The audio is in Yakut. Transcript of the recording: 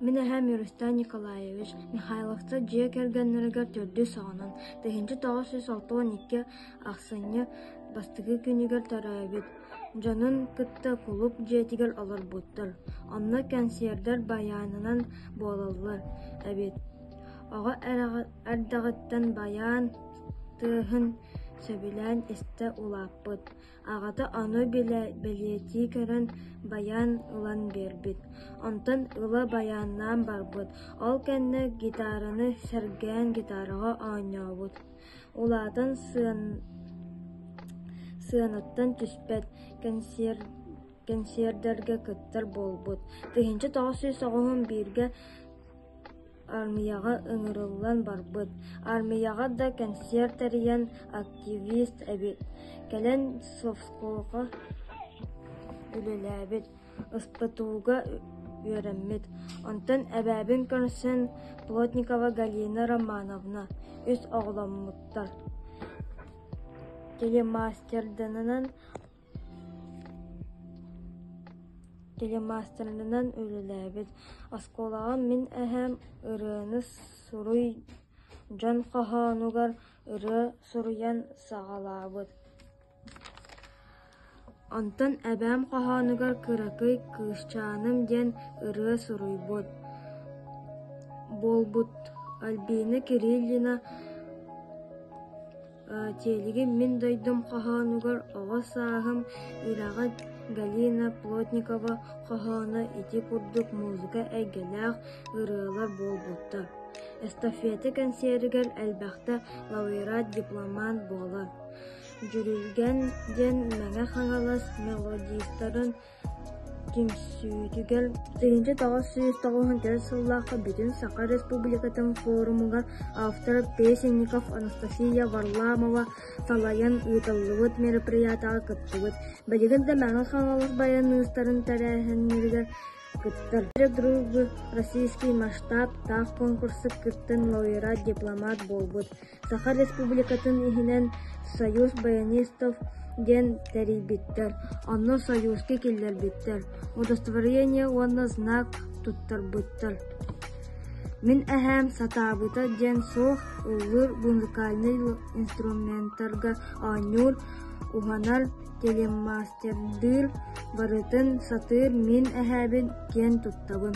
Мин эһэм Ньурустан Николаевич Михайловца дьиэ кэргэннэригэр төрдүс саҕанан тыһыынча тоҕус сүүс алта уон икки ахсынньы бастакы күнүгэр төрөөбүт дьонун кытта кулууп дьиэтигэр олорбуттар. Онно кэнсиэрдэр байаанынан буолаллар эбит. Оҕо эрдэҕиттэн байаан тыаһын сөбүлээн истэ улааппыт. Аҕата ону билэ бэлиэтии көрөн байан ылан биэрбит, онтон ыла байааннаан барбыт, ол кэннэ гитараны сэргээн гитараҕа оонньообут, улаатан сыанаттан түспэт кэнсиэрдэргэ кыттар буолбут, тыһыынча тоҕус сүүс оҕуһун бииргэ Аармыйаҕа ыҥырыллан барбыт, аармыйаҕа да кэнсиэр тэрийэн активист эбит, кэлэн совхозга үлэлээбит, СПТУга үөрэммит. Онтон эбээбин көрсөн Плотникова Галина Романовна үс оҕоломмуттар. Телемастерданан телемаастарынан үлэлээбит. Оскуолаҕа мин эһээм ырыаны суруй дьон хоһоонугар ырыа суруйан саҕалаабыт. Онтон эбээм хоһоонугар кыракый кыысчааным диэн ырыа суруйбут. Буолбут. Альбина Кириллина Тиэлигин мин дойдум хоһоонугар оҕо сааһым үрэҕэ Галина Плотникова хоһооно ити курдук музыка эйгэлээх ырыалар буолбуттар. Эстафета кэнсиэригэр элбэхтэ лауреат дипломант буолар. Дьүрүлгэн диэн Мэҥэ Хаҥалас мелодистарын Түмсүүтүгэр тыһыынча тоҕус сүүс тоҕуһун төрүт сыллаахха Бүтүн Саха Республикатын форумугар автор Песенников Анастасия Варламова салайан ыытыллыбыт мероприятиеҕа кыттыбыт. Билигин да Мэҥэ Хаҥалас байаныыстарын тэрээһиннэригэр кыттар. Друг Российский масштаб таах конкурсу кыттан лауреат, дипломат буолбут. Саха Республикатын иһинэн «Союз баянистов» диэн тэрийбиттэр, онно сойууски киллэрбиттэр, удостоверение уонна знак туттарбыттар. «Мин эһээм сатаабыта» диэн суох ыллыыр музыкальнай инструментарга оонньуур, уһанар, телемастердыыр, барытын сатыыр мин эһээбин киэн туттабын